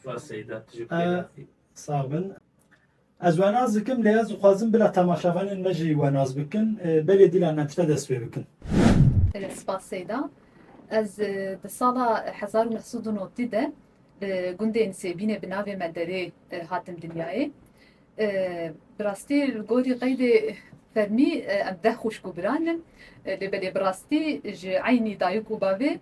Spas Seyda, tu jî bi xêr hatî. Sağ bin. Ez wenaz dikim lê ez dixwazim bila temaşevanên me jî wenaz bikin. Belê dîlan me tire dest pê bikin. Spas Seyda. Ez di sala hezar û neh sed û notî de li gundê Nisêbînê bi navê Menderê hatim dinyayê. Bi rastî li gorî qeydê fermî em deh xwişk û biran in. Lê belê bi rastî ji eynî dayik û bavê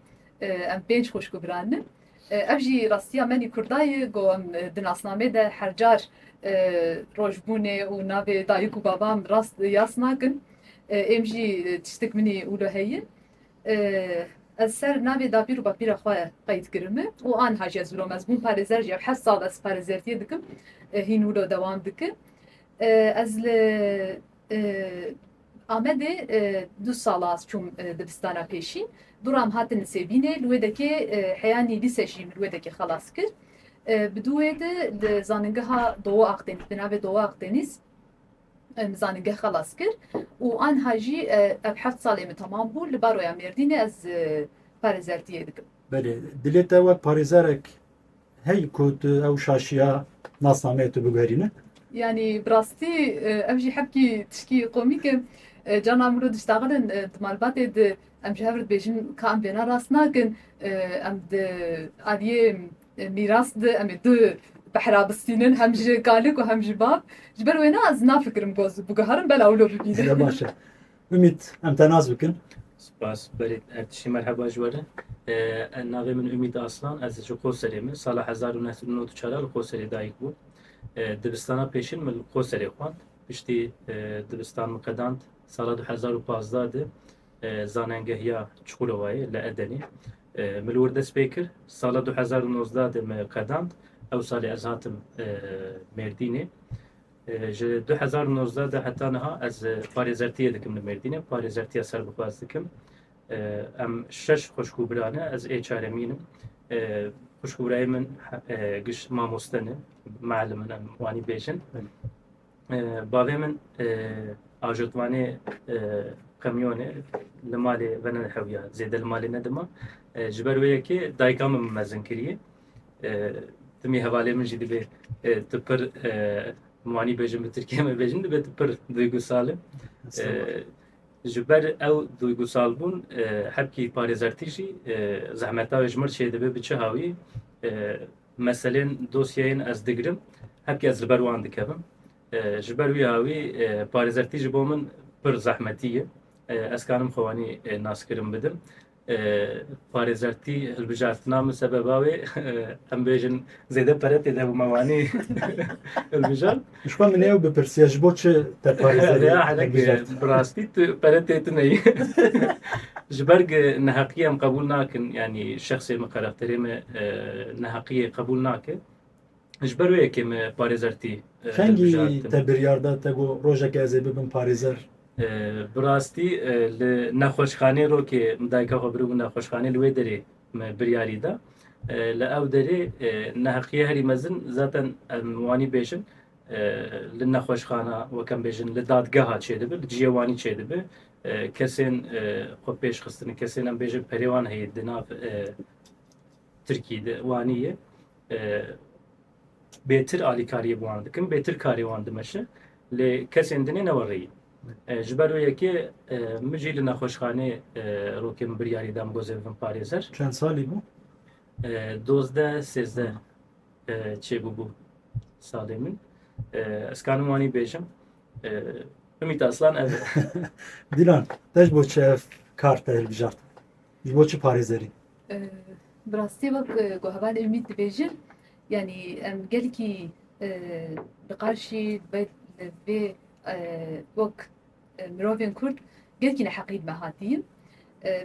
em pênc xwişk û biran in. Ev jî rastiya menî Kurda ye ku em di nasnamê de her car rojbûnê û navê dayik û babam rast yas nakin. Êm jî tiştik minî ûlo heye. Ez ser navê dapîr û bapîra xwe qeyd kirime û anha jî ez ûlo me. Ez bûm parêzer jî ev heşt sal ez parêzertiyê dikim. Hîn ûlo dewam dike. Ez li Amedê du sal a ez çûm dibistana pêşî. Duram hatin li Sêbînê, li wê dekê heyanî lîse jî min li wê dekê xelas kir. Bi du wê di li zaningeha Doğu Akdeniz bi navê Doğu Akdeniz min zaningeh xelas kir û anha jî ev heft salê min temam bû. Li baroya Mêrdînê ez parêzertiyê dikim. Belê. Dilê te wek parêzerek Hey ku tu ew şaşiya nasnameyê tu biguherî min. Yanî bi rastî ev jî hebkî tişkî komîk e. Can a miro diştaxirin di malbatê di em ji hev re dibêjin ka em vêna rast nakin. Em di aliyê mîras di em ê du behra bistînin hem ji kalik û hem ji bab. Ji ber wêna ez nafikirim ku ez biguherim belaw lo bibînim. Baş e. Ümit, em te nas bikin. Spas berê Ertişî merheba ji we re. E, Navê min Ümit Aslan, ez ji Qoserê me. Sala hezar û neh sed û nod û çar a li Qoserê dayik bûm. E, Dibistana pêşin min li Qoserê xwend. Piştî e, dibistan min qedand sala du hezar û pazdeh de e, zanengehiya Çukurowayê li Edenê. E, Min li wir dest pê kir. Sala du hezar û nozdeh de me qedand. Ew salê ez hatim e, Mêrdînê. Ji du hezar û nozdeh de heta niha ez parêzertiyê dikim li Mêrdînê, parêzertiya serbixwaz dikim. Em şeş xwişk û bira ne, ez ê çaremîn im. Xwişk û birayê min giş mamoste ne, muellim in em wanî bêjin. Bavê min ajotvanê qemyonê li malê venede hewiya, zêde li malê nedima. Ji ber wê yekê dayika min mezin kiriye. Timî hevalê min jî dibe tu pir min wanî bêjin bi tirkî me bêjin dibe tu pir duygusal e. Ji ber ew duygusalbûn hebkî parêzertî jî zehmeta wê ji min çê dibe bi çi hawî meselên dosyeyên ez digirim hebkî ez li ber wan dikevim. Ji ber wî hawî parêzertî ji bo min pir zehmetî ye. Ez karim xwe wanî naskirin bidim. Parêzertî hilbijartina min sebeba wê em bêjin zêde pere tê de bû me wanî hilbijart. Ji xwe min ew bipirsiya ji bo çi te parêzerê hilbijart? Bi rastî tu pere tê tu neyî. Ji ber ku neheqiyê em qebûl nakin yanî şexsê min, karakterê min neheqiyê qebûl nake. Ji ber wê yekê me parêzer tî. Fengî te biryar da te got rojekê ez ê bibim parêzer? Bi rastî li nexweşxanê rokê min dayika xwe biribû nexweşxanê li wê derê me biryarî da. Li ew derê neheqiye herî mezin zaten em wanî bêjin li nexweşxana wek em bêjin li dadgeha çêdibi, li ciyê wanî çêdibi. Kesên xwe pêşxistin, kesên em bêjin perê wan heye di nav Tirkî di wanî ye. Bêtir alîkariyê bi wan dikin, bêtir karê wan dimeşe. Lê kesên din ê ne we rêyî. Ji ber wê yekê min jî li nexweşxanê rokê min biryarî da min gozê bibim parêzer. Çend salî bû? Dozdeh, sêzdeh çêbûbû salê min. Ez kanim wanî bêjim. Ümît Aslan ev e. Dîlan, te ji bo çi ev kar te hilbijart? Ji bo çi parêzerî? Bi rastî wek ku heval Ümît dibêjin yanî em gelekî li qarşî vê wek mirovên Kurd gelekî neheqî dime hatîn.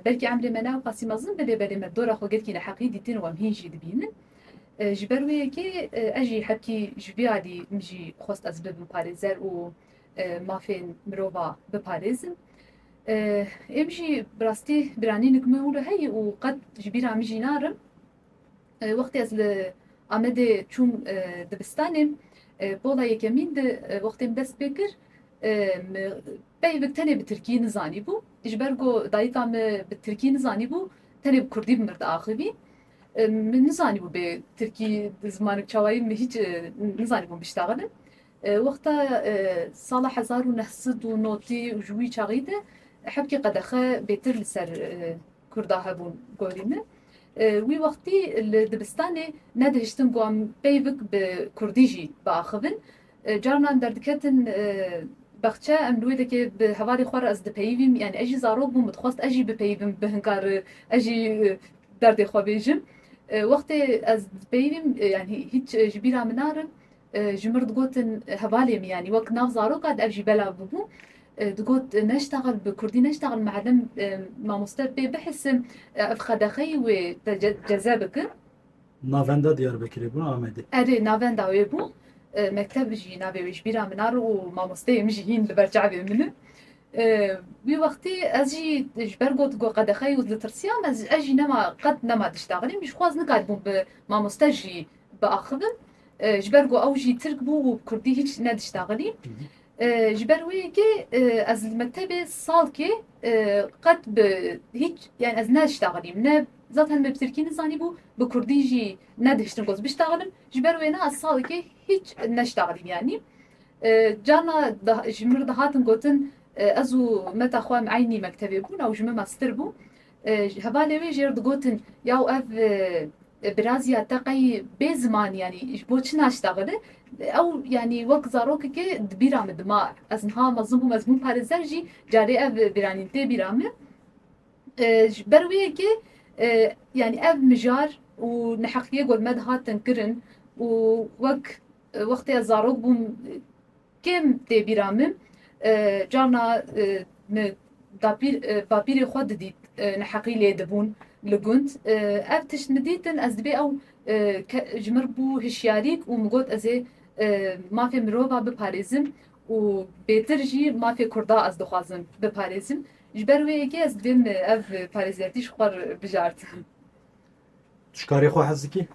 Belkî emrê me ne ew qasî mezin be lê belê me dora xwe gelekî neheqî dîtin û em hîn jî dibînin. Ji ber wê yekê ez jî hebkî ji vê alî min jî xwest ez bibim parêzer û mafên mirova biparêzim. Em jî bi rastî biranînik me hûle heye û qet ji bîra min jî narin. Wextê ez li Amedê çûm dibistanê, pola yekemîn de wextê min dest pê kir, min peyivik tenê bi tirkî nizanîbû. Ji ber ku dayika min bi tirkî nizanîbû, tenê bi kurdî bi min diaxivî. Min nizanîbû bê tirkî zimanik çawa ye, min hîç nizanîbûm biştexilin. Wexta sala hezar û neh sed û notî û ji wî çaxî de hevkî qedexe bêtir li ser Kurda hebûn gorî min. Wî wextî li dibistanê nedihiştin ku em peyvik bi Kurdî jî biaxivin. Carinan derdiketin bexçe em li wê dekê bi hevalê xwe re ez dipeyivîm yanî ez jî zarok bûm min dixwest ez jî bipeyivim bi hinkar ez jî derdê xwe bêjim. Wextê ez dipeyivîm yanî hîç ji bîra min narim Ji mir digotin hevalê min yanî wek nav zaroka di ev jî belav bûbû digot neştexil bi kurdî neştexil miellim mamoste pê bihisim ev qedexeyî wê te ceze bikin. Navenda Diyarbekirê bû Amedê? Erê navenda wê bû mekteb jî navê wê ji bîra min a û mamosteyê min jî hîn li ber çavê min in. Wî wextî ez jî ji ber got got qedexeyî û ditirsiyam ez jî nema qet nema diştexilîm jixwe ez nikaribûm bi mamoste jî biaxivin ji ber ku ew jî Tirk bû û bi Kurdî hîç nediştaxilî. Ji ber wê yekê ez li mektebê salkê qet bi hîç yani ez nediştaxilîm ne zaten me bi Tirkî nizanîbû bi Kurdî jî nedihiştin ku ez biştaxilim ji ber wêne ez salekê hîç neştaxilîm yanî carna ji min re dihatin gotin ez û meta xwe em eynî mektebê bûn ew ji min me stir bû Ji hevalê wê jî digotin yaw ev birazîya te qey bê ziman yanî ji bo çi naştexile? Ew yanî wek zarokekê di bîra min dima ez niha mezin bûm ez bûm parêzer jî carê ev bîranîn tê bîra min. Ji ber wê yekê yanî ev mijar û neheqiyê gor me dihatin kirin û wek wextê ez zarok bûm Kêm tê bîra min, carna min dapîr bapîrê xwe didît neheqî lê dibûn li gund. Ev tişt min dîtin ez dibê ew ke ji min re bû hişyarîk û min got ez ê mafê mirova biparêzim û bêtir jî mafê kurda ez dixwazim biparêzim. Ji ber wê yekê ez divê min ev parêzertî ji xwe re bijartim. Tu ji karê xwe hez dikî?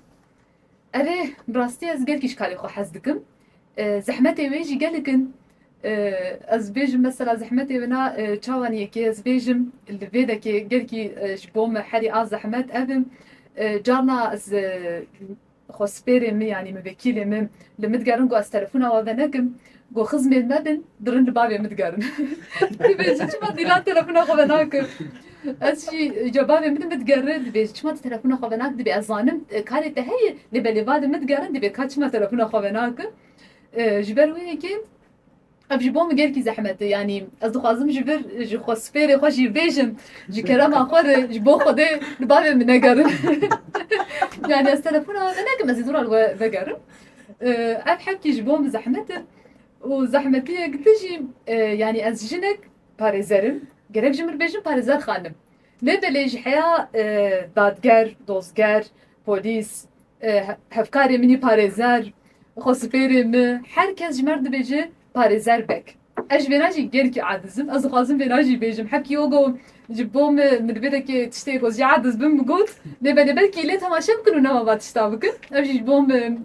Erê bi rastî ez gelkî ji karê xwe hez dikim. Zehmetê wê jî gelek in. Ez bêjim mesela zehmetê wina çawan yekê ez bêjim li vê dekê gelkî ji bo min herî a zehmet ev in. Carna ez xwespêrê min yanî min vekîlê min li min digerin ku ez telefona we venekim Ku xizmên me bên bi rind li bavê min digerin. Dibêjin çima Dîlan telefona xwe venakir. Ez jî ca bavê min bidigerin dibêjin çima tu telefona xwe venakir dibê ez zanim karê te heye lê belê va li min digerin dibê ka çima telefona xwe venakir. Ji ber wê yekê ev ji bo min gelkî zehmet e yanî ez dixwazim ji vir ji xwe sipêrê xwe jî bêjim ji kerema xwe re ji bo Xwedê li bavê min negerin. Yanî ez telefona we venekim ez ê zora li we vegerim. Ev hepkî ji bo min zehmet e û zehmetiyek dijî yanî ez jinek parêzer im. Gerek ji min bêjin parêzer xanim. Lê belê ji heya dadger, dozger, polîs, hevkarê min ê parêzer, xwespêrê min her kes ji me re dibêje Parêzer Beg, Ez ji vêra jî gelkî adiz im. Ez dixwazim vêra jî bêjim. Hevkî yo got, Ji bo min min divê dekê tiştê ku ez jî adiz bim bigot. Lê belê belkî lê temaşe bikin û nema va tişta bikin. Ev jî ji bo min.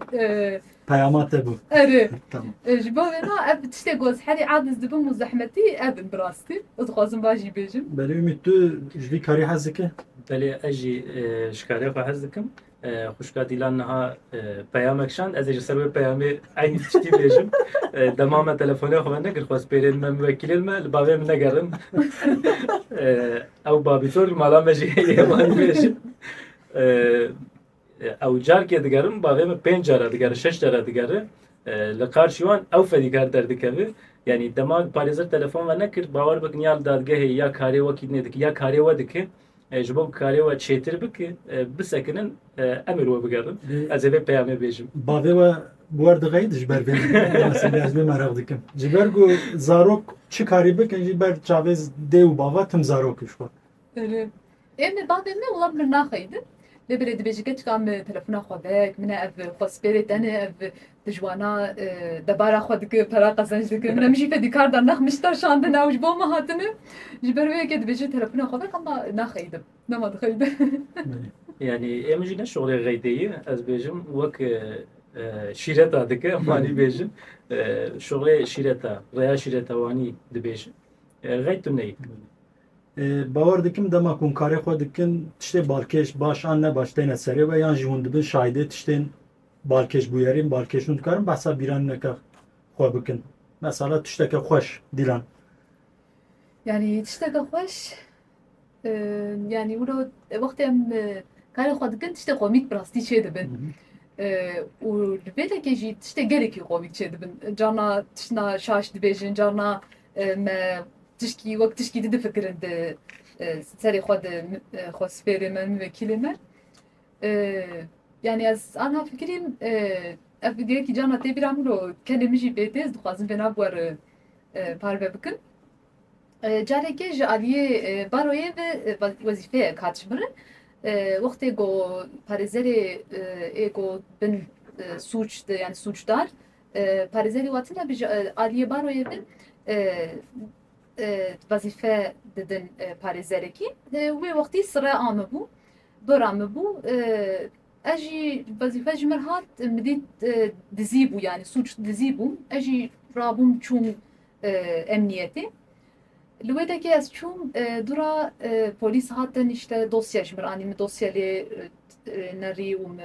Peyama te bû. Erê. Tamam. Ji bo vê na ev tiştê ku ez herî adiz dibim û zehmetî ev in bi rastî. Ez dixwazim va jî bêjim. Belê Umît tu ji vî karî hez dikî? Belê ez jî ji karê xwe hez dikim. Xwişka Dîlan niha peyamek şand, ez ê ji ser wê peyamê eynî tiştî bêjim. Dema me telefonê xwe vekir xwest pêrên me miwekîlên me li bavê min negerin. Ew babîtor li mala me jî heye wanî bêjin. Ew carkê digerin bavê min pênc cara digere şeş cara digere li qarşî wan ew fedîkar derdikeve. Yanî dema parêzer telefon ve nekir bawer bikin ya li dadgehê ya karê wekî dinê dike ya karê we dike. Ji bo ku karê we çêtir bike, bisekinin em ê li we bigerin. Ez ê vê peyamê bêjim. Bavê we bi wer dixeyit ji ber vê masîlê ez vê meraq dikim. Ji ber ku zarok çi karî bikin jî ber çavê dê û bava tim zarok ji xwe. Erê. Em ê bavê me wila bi min naxeyidin. Lê belê dibêjî keçika min telefona xwe vek, min e ev xwe spêrê tenê, ev di ji wana debara xwe dike, pera qezenc dike. Min e min jî fedîkar da nexmişta şandin ew ji bo min hatine. Ji ber wê yekê dibêje telefona xwe vek hema naxeyidim. Dema dixeyidim. Yanî ê min jî ne şoxlê xeydeyî ez bêjim wek şîreta dike malî bêjin. Şoxlê şîreta, reya şîreta wanî dibêjin. Xeyt tu neyî. Bawer dikim dema ku hûn karê xwe dikin tiştê balkêş baş an ne baş têne serê we yan jî hûn dibin şahîdê tiştên balkêş bûyerîn balkêş hûn dikarin behsa bîranîneke xwe bikin. Mesela tişteke xweş dîlan. Yani tişteke xweş yani wilo wextê em karê xwe dikin tiştê komîk bi rastî çê dibin. û li vê lekê jî tiştê gelekî komîk çê dibin. Carna tiştna şaş dibêjin, carna Me tişkî wek tişkî di difikirin di serê xwe di xwe spêrê me min vekîlê me. Yani ez ana fikirîm ev girêkî cana tê bîra min û kenê min jî pê tê ez dixwazim vêna bi wer parve bikim. Carekê ji aliyê baroyê ve wezîfeyek hat ji min re wextê ku parêzerê ê ku bin sûc de yani sûcdar Parêzerê we tune bi ji aliyê baroyê ve wezîfe didin parêzerekî. Wê wextî sire amibû, bir amibû. Ez jî wezîfe ji min hat midî dizî bû yanî sûc dizî bû. Ez jî rabûm çûm emniyetê. Li wê dekê ez çûm dûra polîs hatin îşte dosye ji min anî min dosye lê nerî û min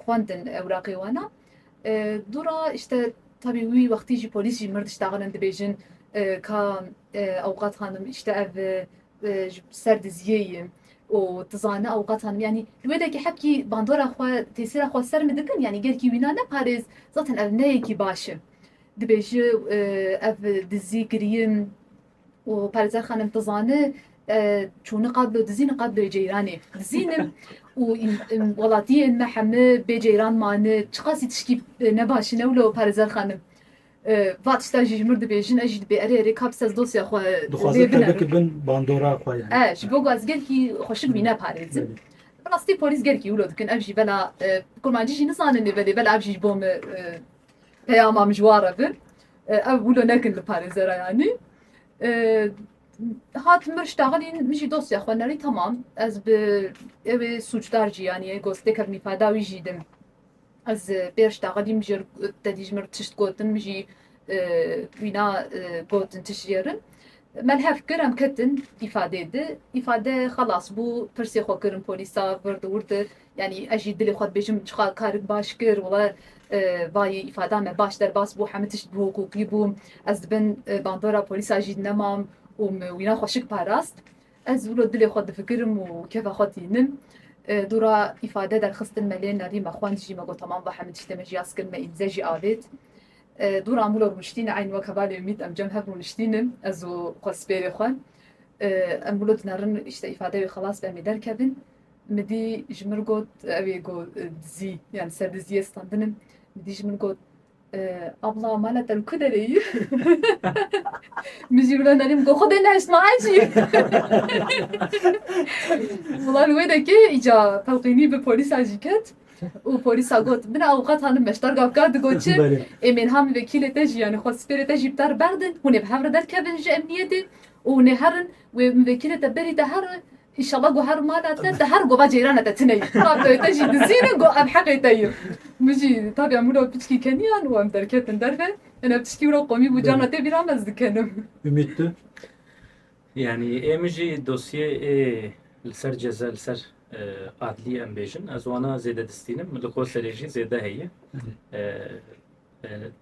xwendin ewraqê wan a. Dûra îşte tabî wî wextî jî polîs jî mirdiş daxilin dibêjin ka Ewqat Xanim îşte ev ser diziyê ye û tu zane Ewqat Xanim yanî li wê de kî hepkî bandora xwe têsîra xwe ser min dikin yanî gel kî wîna neparêz zaten ev ne yekî baş e. Dibêje ev dizî kirî ye. û Parêzer Xanim Tizani çûni qadlo dizîni qadloyê ceyranê dizînim û welatiyên me hemi bê ceyran mani çiqasî tiştî nebaşî ne wilo Parêzer Xanim va tişta jî ji mir dibêjin ez jî dibê erê erê ka bi sez dosya xwe dixwazin te bike bin bandora xwe ye ji bo ku ez gelkî xweşik wî neparêzim rastî polîs gelkî wilo dikin ev jî bela kurmancî jî nizanin lê belê bela ev jî ji bo min Peyama mijwar e bin. Ew wilo nekin li parêzera yanî. Hat mir ji taxilîn min jî dosya xwe nerî tamam. Ez bi ewê sûcdar jî yanî gostê kevnî fada wî jî din. Ez pêr ji taxilîn jê te dî ji mir tişt gotin min jî wîna gotin tişt jêrin. Melhev kir em ketin îfadê di. Îfade xelas bû pirsê xwe kirin polîsa vir di wir di. Yanî ez jî dilê xwe dibêjim çiqas karim baş kir wala vayî îfada me baş derbas bû hemû tişt bi hiqûqî bû ez di bin bandora polîsa jî nemam û min wîna xwe şik parast. Ez wilo dilê xwe difikirim û kefa xwe tînim. Dora îfade derxistin me lê nerî me xwend jî me got tamam ba hemû tiştê me jî yas kir me îmze jî avêt. Dora em wilo rûniştîne eyn wek hevalê Umît em cem hev rûniştînin ez û xwespêrê xwe. Em wilo dinerin îfade wê xelas be em ê derkevin Midî ji min got ew ê ku dizî yan li ser diziyê standin in. Midî ji min got Abla mala te li ku derê yî? Min jî wilo nerîm got xwedê nehiştma hecî. Wila li wê dekê îca pelqînî bi polîsan jî ket û polîsa got min awqat hanim meştar gavka digot çi ê mênha min vekîlê te jî yanî xwe sipêrê te jî bi te re berdin hûn ê bi hev re derkevin ji emniyetê û hûn ê herin wê min vekîlê te berî te here Înşallah ku her mala te te her gova ceyran e te tune yî. Tabiya te jî dizîn e ku em heqê te yin. Min jî tabiya min û piçkî keniyan û em derketin derve. Hene piçkî wilo qomî bû carna tê bîra me ez dikenim. Umît tu? Yanî ê min jî dosyê ê li ser ceza li ser adlî em bêjin ez wana zêde distînim. Li Koserê jî zêde heye.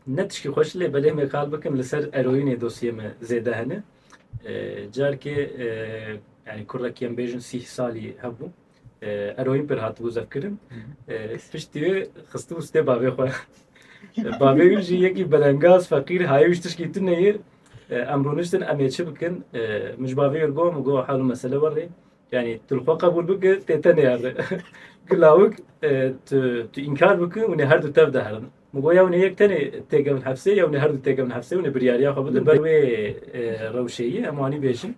Ne tişkî xweş lê belê me kal bikim li ser eroînê dosyê me zêde hene. Carkê yani kurdekî em bêjin sîh salî hebû eroîn pir hatibû zevkirin. Piştî wê xistibû stê bavê xwe. Bavê wî jî yekî belengaz feqîr hayê wî ji tişkî tu neyê. Em rûniştin em ê çi bikin? Min ji bavê wî got, min got hal û mesele werê. Yani tu xwe qebûl bike tê te nêhere. Ki lawik tu tu înkar bike û nê her du tev de herin. Min got ya nê yek tenê têkevin hepsê ya nê her du têkevin hepsê û nê biryariya xwe bidin ber wê rewşeyî em anî bêjin.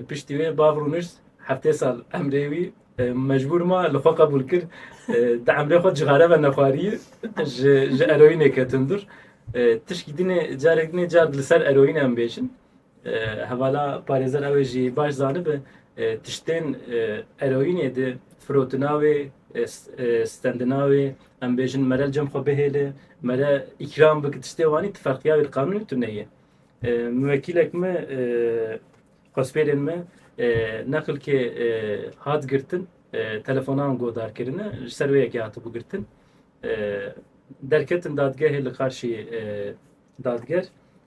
Piştî wê bav rûnişt heftê sal emrê wî mecbûr ma li xwe qebûl kir. Di emrê xwe cixare ve nexwariyî ji ji eroyînê ketin dûr. Tişkî dinê carek dinê car li ser eroyîn em bêjin. Hevala parêzer ew ê jî baş zanibe tiştên eroînê di firotina wê, stendina wê, em bêjin mere li cem xwe bihêle, mere îkram bike tiştê wanî tu ferqiya wê li qanûnê tu neyê. Miwekîlek me xwespêrên me neqilkê hat girtin telefonan godar kirine ji ser wê yekê hatibû girtin. Derketin dadgehê li qarşî dadger.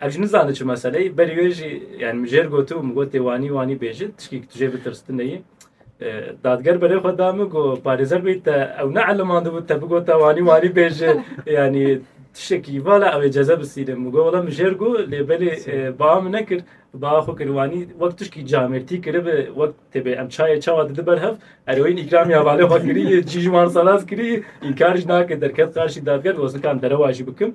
Ev jî nizane çi meseleyî berî wê jî yani min jêr got û min got tê wanî wanî bêjî tişkî tu jê bitirstineyî. Dadger berê xwe da min ku parêzer bî te ew ne elimandibû te bigota wanî wanî bêjî yani tiştekî vala ew ê ceze bisîne min got wala min jêr got lê belê ba min nekir ba xwe kir wanî wek tişkî camêrtî kiribi wek têbê em çayê çawa didi ber hev eroyîn îkramiya valê xwe kirî cî ji wan saraz kirî înkar jî nake derket qarşî dadger got zikan derewa jî bikim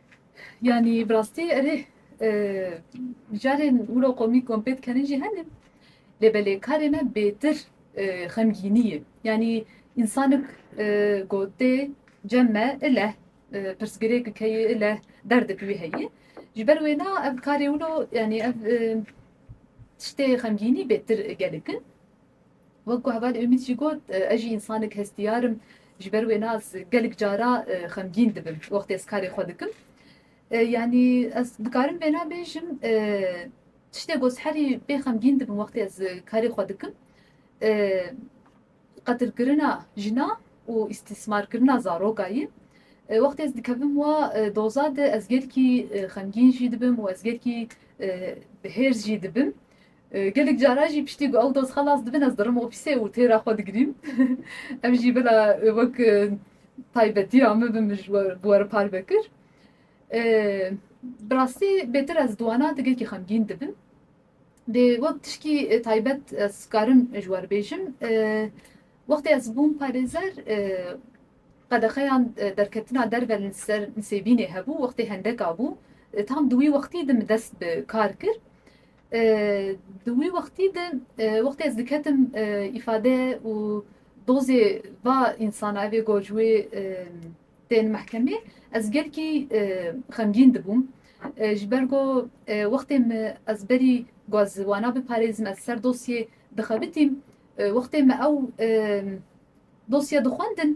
Yanî bi rastî erê mijarên wilo komîk wan pê dikerên jî hene lê belê karê me bêtir xemgînî ye. Yanî însanik gotê cem me ileh pirsgirêk keyê ileh derdek wî heyî. Ji ber wêna ev karê wilo yanî ev tiştê xemgînî bêtir gelek in. Wek ku heval Umît jî got, Ez jî însanek hestiyar im, ji ber wê nas gelek cara xemgîn dibim wextê ez karê xwe dikim. Yanî ez dikarim vêna bêjim, tiştê ku ez herî pê xemgîn dibim wextê ez karê xwe dikim, qetilkirina jina û îstîsmarkirina zaroka ye. Wextê ez dikevim wa doza de ez gelkî xemgîn jî dibim û ez gelkî hêrs jî dibim. Gelek caran jî piştî ku ew doz xelas dibin ez dirim ofîsê û têra xwe digirîm. Ev jî bila wek taybetiya min bi min bi we re par vekir. Bi rastî bêtir ez duana tigekî xemgîn dibim. Dê wek tişkî taybet ez karim ji we re bêjim. Wextê ez bûm parêzer qedexeyan derketina derve li ser nisêbînê hebû wextê hendeka bû. Tam di wî wextî de min dest bi kar kir. Di wî wextî de wextê ez diketim îfade û dozê va însana evê goj wê tên mehkemê ez gelkî xemgîn dibûm. Ji ber ku wextê me ez berî ku ez wana biparêzim ez ser dosyê dixebitîm wextê me ew dosye dixwendin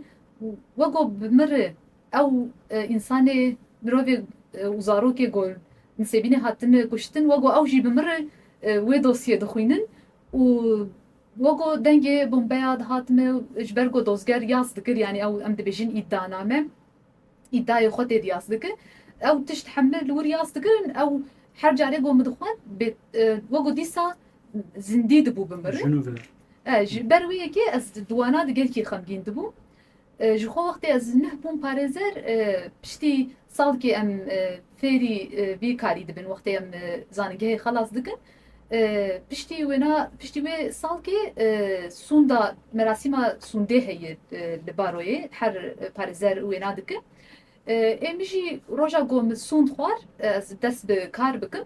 wek ku bi min re Ew însanê, mirovê û zarokê ku li Sêbînê hatin kuştin weko ew jî bi mir wê dosyê dixwînin û weko dengê bombeya dihatime ji ber ku dozger yas dikir yanî ew em dibêjin îddianame îddayê xwe têdî yas dikir ew tişt hemle li wir yas dikirin ew her carê ku min dixwend bê weko dîsa zindî dibû bi mir e ji ber wê yekê ez di wana digel kî xemgîn dibûm Ji xwe wextê ez nuh bûm parêzer piştî salkê em fêrî vî karî dibin wextê em zanîngehê xelas dikin piştî wêna piştî wê salkê sûnda merasîma sûndê heye li baroyê her parêzer wêna dikin ê min jî roja ku min sûnd xwar ez dest bi kar bikim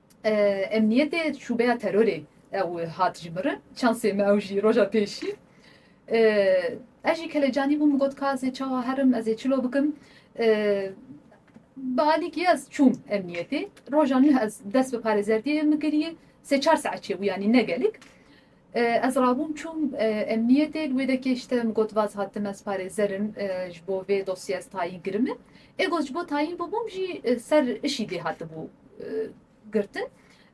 Emniyetê şûbeya terorê ew hat ji mirin. Çansê me ew jî roja pêşî ez jî kelecanî bûm got ka ez ê çawa herim ez ê çilo bikim. Bi alîkî ez çûm emniyetê. Roja nû ez dest bi parêzerdiyê min kiriye. Sê çar saet çêbû yanî ne gelek. Ez rabûm çûm emniyetê li wê de kêş te min got vaz hat tim ez parêzer im ji bo vê dosyê ez tayîn kirime. Ê got ji bo tayîn bûbûm jî ser işî dê hatibû girtin.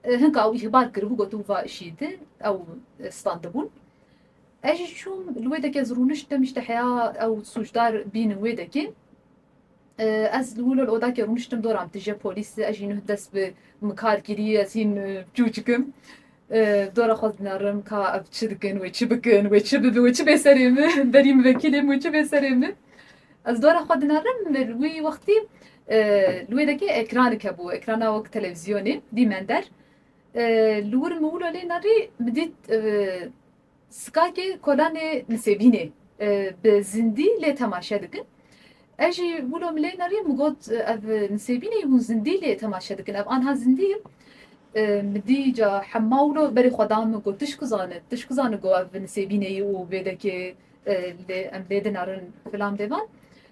Hinka ew îhbar kiribû gotibû va işî di ew standibûn. Ez jî çûm li wê de ke ez rûnişt dem îşte heya ew sûcdar bînin wê de kê. Ez li wilo li odakê rûniştim dora min tije polîs ez jî nuh dest bi mikar kirî ez hîn çû çikim. Dora xwe dinarim ka ev çi dikin wê çi bikin wê çi bibi wê çi bê serê min berî min vekilê min wê çi bê serê min. Ez dora xwe dinarim li wî wextî li wê dekê ekranik hebû ekrana wek televîzyonê dî mender. Li wir min wilo lê nerî min dît Skakê kolanê Nisêbînê bi zindî lê temaşe dikin. Ez jî wilo milê nerî min got ev Nisêbînê hûn zindî lê temaşe dikin ev anha zindî ye. Min dî ca hema wilo berê xwe da min got tu ji ku zanî tu ji ku zanî got ev Nisêbînê ye û vêdekê lê em lê dinarin filan bêvan.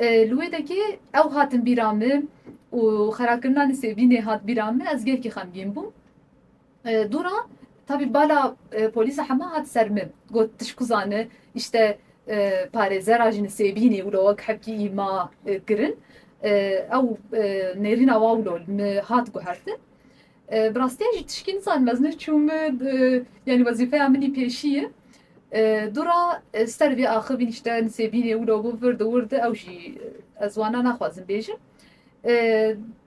Li wê dekê ew hatin bîra min û xerakirina Nisêbînê hat bîra min, ez gelkî xemgîn bûm. Dûra tabî bala polîsa hema hat ser min, got tişku zani îşte parêzera ji Nisêbînê wilo wek hepkî î ma kirin. Ew nêrîna wa wilo li min hat guhertin. Bi rastiya jî tişkî nizanim ez ne çû me yanî wezîfeya min î pêşî ye. Dûra ser vê axivîn îşte nisêbînê wilo bo vir di wir di ew jî ez wana naxwazim bêjim.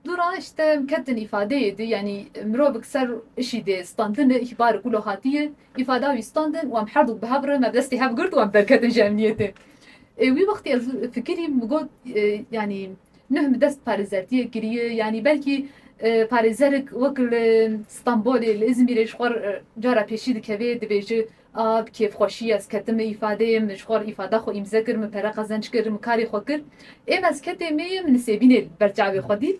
Dûra îşte ketin îfadeyê di yanî mirovik ser îşî dê standin e îhbarek wilo hatiye îfada wî standin wan herdûk bi hev re me bi destê hev girt wan derketin ji emniyetê. Wî wextî ez fikirîm min got yanî Nuh bi dest parêzertiyê kiriye yanî belkî parêzerik wek li Stenbolê, li Îzmîrê ji xwe re cara pêşî dikeve dibêje a bi kêfxweşî ez ketime îfadeyê min ji xwe re îfada xwe îmze kir, min pere qezenc kir, min karê xwe kir. Ê min ez ketê me ye, min nisêbînê li ber çavê xwe dît.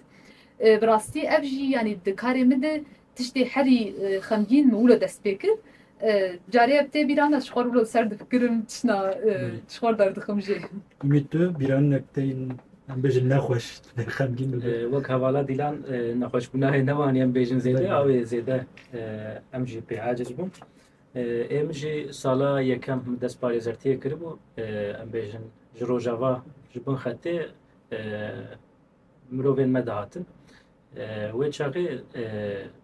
Bi rastî ev jî yanî di karê min de Tiştê herî xemgîn min wilo dest pê kir. Carê ev tê bîran ez ji xwe re wilo li ser difikirim tişna ji xwe re derdixim jê. Umît tu bîranînek te yên em bêjin nexweş tune xemgîn bibe? Wek hevala Dîlan nexweşbûnayê ne wanî em bêjin zêde aw ê zêde em jî pê aciz bûn. Ê min jî sala yekem min dest parêzertiyê kiribû em bêjin ji rojava ji bin xetê Mirovên me dihatin. Wê çaxê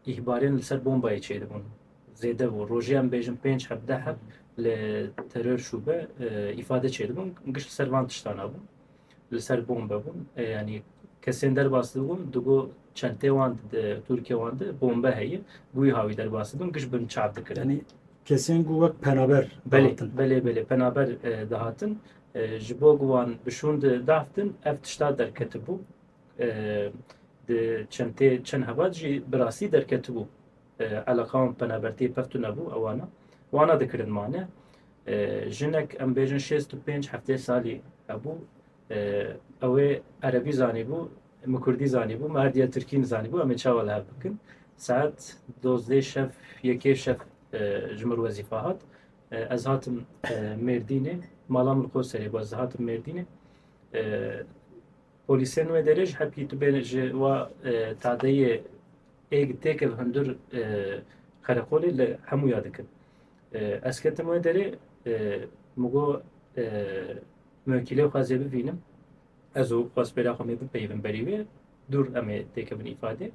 îhbarên li ser bombayê çêdibûn. Zêde bû. Rojê em bêjin pênc heb deh heb li terör şûbe îfade çêdibûn. Giş li ser van tiştan hebû. Li ser bombe bûn. Yanî kesên derbas dibûn digo çentê wan Tirkiye wan de bombe heye. Bûyî hawî derbas dibûn giş bin çap dikirin. Kesên ku wek penaber dihatin. Belê belê belê penaber dihatin. Ji bo ku wan bi şûnd dahftin ev tişta derketibû. Di çentê çend hevat jî bi rastî derketibû. Eleqa wan penabertiyê pir tune bû ewana. Wana dikirin mane. Jinek em bêjin şêst û pênc heftê salî hebû. Ew ê erebî zanîbû, min kurdî zanîbû, min her diya tirkî nizanîbû em ê çawa li hev bikin. Saet dozdeh şev yekê şev ji mir wezîfa hat. Ez hatim Mêrdînê, mala min Qoserê bû, ez hatim Mêrdînê. Polîsên wê derê ji hepkî tu bê ji wa tadeyê êg têkil hundir qereqolê li hemû ya dikin. Ez ketim wê derê min got muwekîlê xwe zê bivînim ez û xwespêra xwe mê bipeyivin berî wê dûr em ê têkevin îfadê.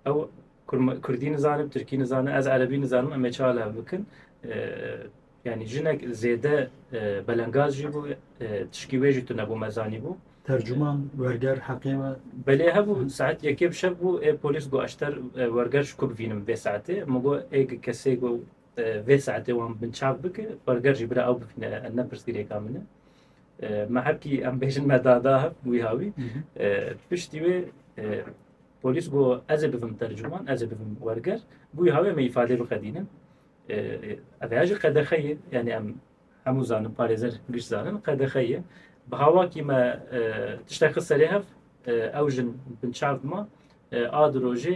Ew kurdî nizanin, tirkî nizanin, ez erebî nizanim em ê çi ala ev bikin. Yanî jinek zêde belengaz jî bû, tişkî wê jî tu nebû me zanîbû. Tercuman werger heqê me. Belê hebû saet yekê bi şev bû ê polîs got eşter werger ji ku bivînim vê saetê. Min got ê kesê ku vê saetê wan bin çav bike werger jî bira ew bivîne em ne pirsgirêka min e. Me hebkî em bêjin me da da hev wî ha wî. Piştî wê Polîs got, Ez ê bibim tercuman, ez ê bibim werger, bûyî hawê em ê îfadeyê biqedînin. Ev heya jî qedexe ye, yanî em hemû zanin, parêzer giş zanin, qedexe ye. Bi hawakî me tiştek xist serê hev, ew jin binçav dima, a di rojê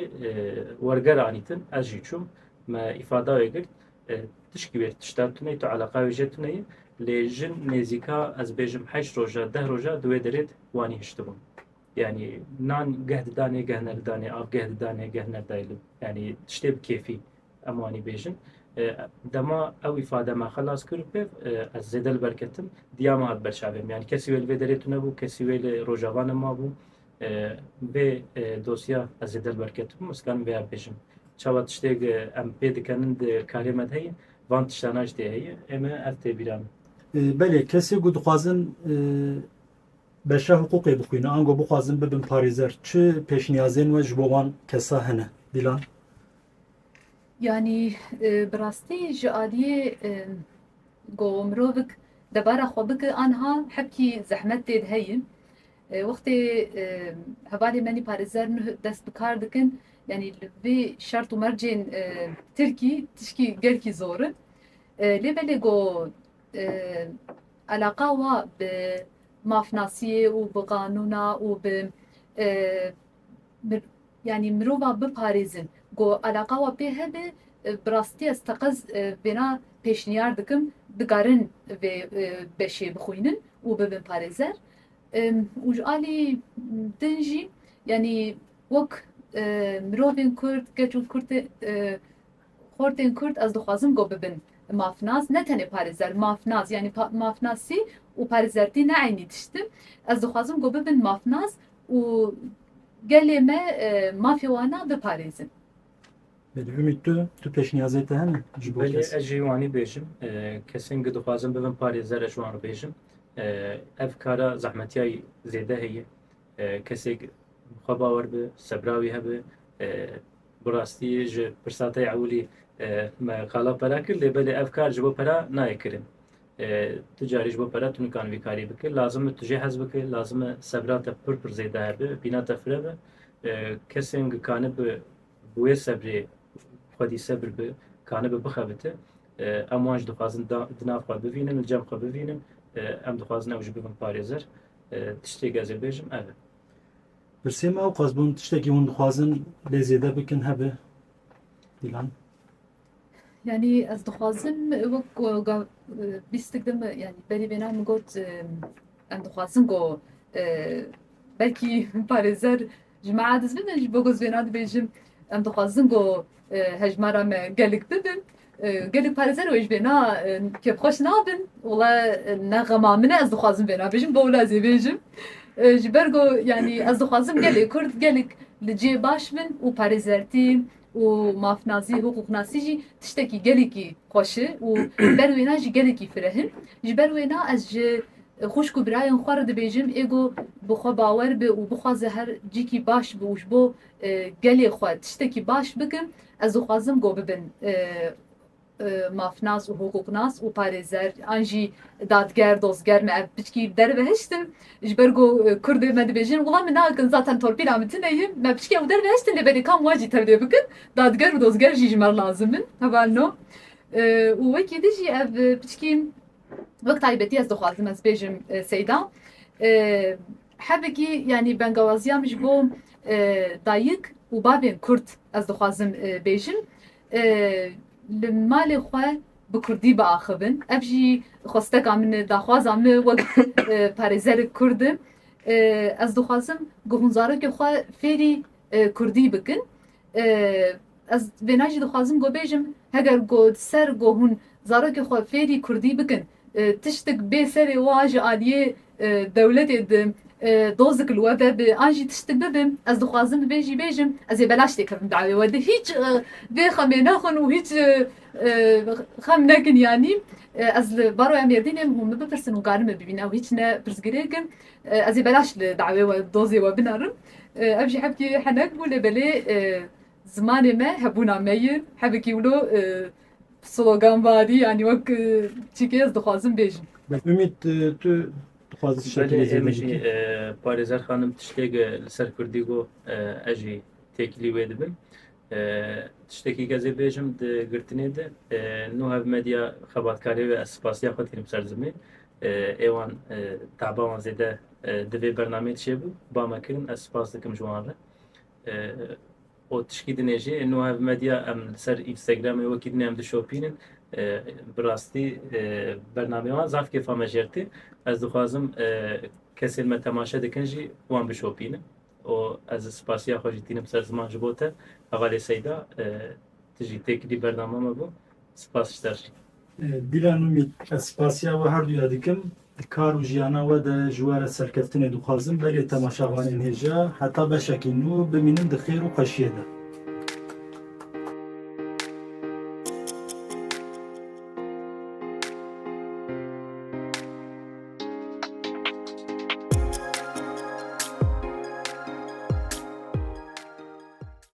werger anîtin, ez jî çûm, me îfada wê girt, tişkî wê tişta tuneyî, tu eleqa wê jê tuneyî, lê jin nêzîka ez bêjim heşt roja, deh roja di wê derê de wanî hiştibûn. Yanî nan geh didanê geh nedidanê, av geh didanê geh nedayê yanî tiştê bi kêfî em wanî bêjin. Dema ew îfade me xelas kir û pêv ez zêde li ber ketim, diya me hat ber çavê min. Yanî kesî wê li vê derê tune bû, kesî wê li Rojava ne mabû. Vê dosya ez zêde li ber ketibûm ez karim vêya bêjim. Çawa tiştêk em pê dikenin di karê me de heye, van tiştana jî tê heye. Ê me ev tê bîra min. Belê kesê ku dixwazin Beşa hiqûqê bixwîne ango bixwazin bibin parêzer çi pêşniyazên we ji bo wan kesa hene? Dîlan. Yanî bi rastî ji aliyê go mirovik debara xwe bike anha hepkî zehmet tê de heye. Wextê hevalê menî parêzer nuh dest bi kar dikin yanî li vê şert û mercên tirkî tişkî gelkî zor in. Lê belê go Eleqa wa bi mafnasiyê û bi qanûna û bi yanî mirova biparêzin ku eleqa wa pê hebe bi rastî ez teqez vêna pêşniyar dikim dikarin vê beşê bixwînin û bibin parêzer û ji alî din jî yanî wek mirovên kurd keç û kurtên Xortên Kurd ez dixwazim got bibin mafnas, ne tenê parêzer, mafnas, yanî mafnasî û parêzertî ne eynî tişt in. Ez dixwazim got bibin mafnas û gelê me mafê wan a biparêzin. Belê Umît tu, tu pêşniyazê te hene ji bo kes? Belê ez jî wanî bêjim. Kesên ku dixwazin bibin parêzer ez ji wan re bêjim. Ev kara zehmetiyayî zêde heye. Kesek bi xwe bawer be, sebra wî hebe. Bi rastî ji pirsa te ya ewilî me qala pera kir lê belê ev kar ji bo pera nayê kirin. Tu carî ji bo pera tu nikan vî karî bikî. Lazim e tu jê hez bikî, lazim e sebra te pir pir zêde hebe, bîna te fire be. Kesên gi kanibe bi wê sebrê xwedî sebir bi kanibe bixe bi te. Em wan jî dixwazin di nav xwe bivînin, li cem xwe bivînin. Em dixwazin ew jî bibin parêzer. Tiştê gezê bêjim ev e. Pirsê me ew qas bûn tiştekî hûn dixwazin lê zêde bikin hebe Dîlan? Yani ez dixwazim wek bîstik de me yani berî vêna min got em dixwazin go belkî parêzer Ji me aciz bibin ji bo ku ez vê na dibêjim. Em dixwazin ku hejmara me gelek bibin. Gelek parêzer wê ji vê na kêfxweş nabin. Wala ne xema min e ez dixwazim vê na bêjim bo wila ez ê bêjim. Ji ber ku yanî ez dixwazim gelê Kurd gelek li cihê baş bin û parêzertî, û mafnasî, hiqûqnasî jî tiştekî gelekî xweş e û li ber wêna jî gelekî fireh in. Ji ber wêna ez ji xwişk û birayên xwe re dibêjim ê go bi xwe bawer be û bixwaze her cîkî baş bi û ji bo gelê xwe tiştekî baş bikin, ez dixwazim go bibin mafnas û hiqûqnas û parêzer an jî dadger, dozger me ev piçkî dervehiştin ji ber ku Kurdê me dibêjin wila min nakin zaten torpîla min tune ye, me piçkî ew dervehiştin lê belê kam wan jî tevlê bikin dadger û dozger jî ji me re lazim in heva no û wekî din jî ev piçkî wek taybetî ez dixwazim ez bêjim Seyda hevekî yanî bengawaziya min ji bo dayik û bavên Kurd ez dixwazim bêjim. Li malê xwe bi kurdî biaxivin. Ev jî xwesteka min e, daxwaza min e wek parêzerek kurd im. Ez dixwazim ku hûn zarokê xwe fêrî kurdî bikin. Ez vêna jî dixwazim ku bêjim heger ku di ser ku hûn zarokê xwe fêrî kurdî bikin Tiştik bê serê wa ji aliyê dewletê di dozik li we vebe an jî tiştik bibe ez dixwazim bi vê jî bêjim ez ê belaş tê kevim dawê we di hîç vê xemê nexwin û hîç xem nekin yanî ez li baroya mêrdînê hûn min bipirsin û garin min bibîne ew hîç ne pirsgirêk in ez ê belaş li dawê we dozê we binerim ev jî hevkî henek bû lê belê zimanê me hebûna me ye hevekî wilo Sloganbarî yanî wek çîkê ez dixwazim bêjim. Ümît tu dixwazî şekilê Belê zêde êmijî bikî? parêzer xanim tiştêk li ser kurdî got ez jî têkilî wê dibim. Tiştekî ke ez ê bêjim di girtinê de nû hev medya xebatkarê ve ez spasiya xwe dikirim ser zimên êwan taba wan zêde di vê bernameyê de çêbû ba me kirin ez spas dikim ji wan re. Xwe tişkî dinê jî ê nuha ev medya em li ser Instagramê wekî dinê em dişopînin. Bi rastî bernameyê wan zaf kêfa me jêrtî. Ez dixwazim kesên me temaşe dikin jî wan bişopînin. û ez spasiya xwe jî tînim ser ziman ji bo te. Hevalê Seyda tu jî têkilî bername me bû. Spas ji te re. Dîlan Umît, ez spasiya we her du ya dikim. Di kar û jiyana we de ji we re serkeftinê dixwazim. Belê temaşavanên hêja heta beşekî nû bimînin di xêr û xweşiyê de.